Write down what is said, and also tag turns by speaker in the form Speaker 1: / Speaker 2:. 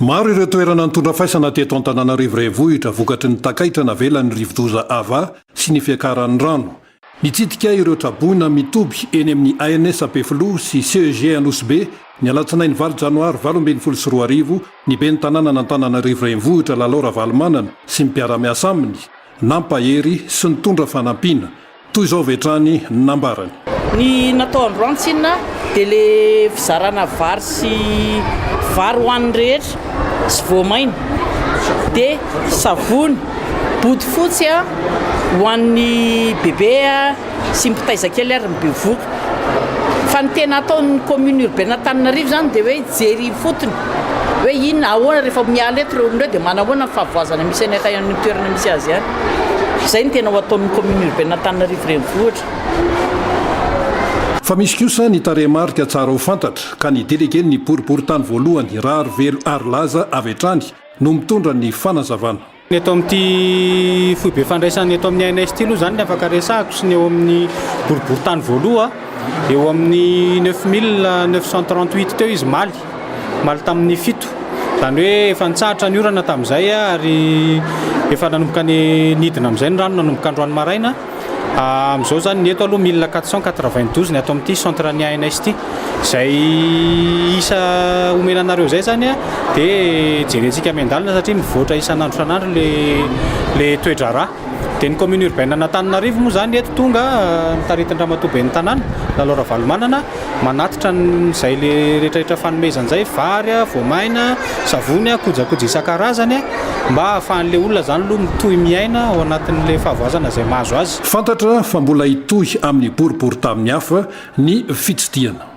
Speaker 1: Maro ireo toerana nitondra faisana teto Antananarivo Renivohitra vokatry ny takaitra navelan'ny rivodoza Ava sy ny fiakaran'ny rano. Nitsidika ireo traboina mitoby eny amin'ny ANS Ampefiloha sy CEG Anosibe, ny alatsinainy valo janoary valo ambin'ny folo sy roa arivo, ny ben'ny tanànan'Antananarivo Renivohitra Lalao Ravalomanana sy ny mpiara-miasa aminy, nampahery sy nitondra fanampiana. Toy izao avy hatrany ny nambarany. Ny natao
Speaker 2: androany tsinona dia le fizarana vary sy vary ho an'ny rehetra sy voamaina dia savony bodofotsy ho an'ny bebe sy mpitaiza kely ary ny bevoka fa ny tena ataon'ny commune urbaine Antananarivo izany dia hoe hijery ifotony hoe inona ahoana rehefa miala eto ireo olona ireo dia manahoana ny fahavoazana misy any amin'ny toerana misy azy any. Izay no tena ho ataon'ny Kaominina Urbaine Antananarivo Renivohitra.
Speaker 1: Fa misy kosa ny tarehimarika tsara ho fantatra ka ny Delegen'ny Boriborintany Voalohany, Raharivelo Harilaza avy hatrany no mitondra ny fanazavana. Ny eto amin'ity
Speaker 3: foibe fandraisana eto amin'ny INS ity aloha izany ny afaka resahako sy ny eo amin'ny Boriborintany Voaloha. Eo amin'ny neuf mille neuf cent trente huit teo izy maly, maly tamin'ny fito, izany hoe efa nitsahatra ny orana tamin'izay ary efa nanomboka ny nidina amin'izay ny rano nanomboka androany maraina, amin'izao izany ny eto aloha mille quatre cent quatre vingt douze ny ato amin'ity centre ny ANS ity, izay isa omena anareo izay izany dia jerentsika miandalana satria mivoatra isan'andro isan'andro ilay ilay toe-draharaha. Dia ny commune urbaine an'Antananarivo moa izany eto tonga taritin-dRamatoa ben'ny tanàna, Lalao Ravalomanana, manatitra an'izay rehetrarehetra fanomezana izay, vary, voamaina, savony, kojakoja isan-karazany mba hahafahan'ilay olona izany aloha mitohy miaina ao anatin'ilay fahavoazana izay mahazo azy. Fantatra
Speaker 1: fa mbola hitohy amin'ny boriborintany hafa ny fitsidihana.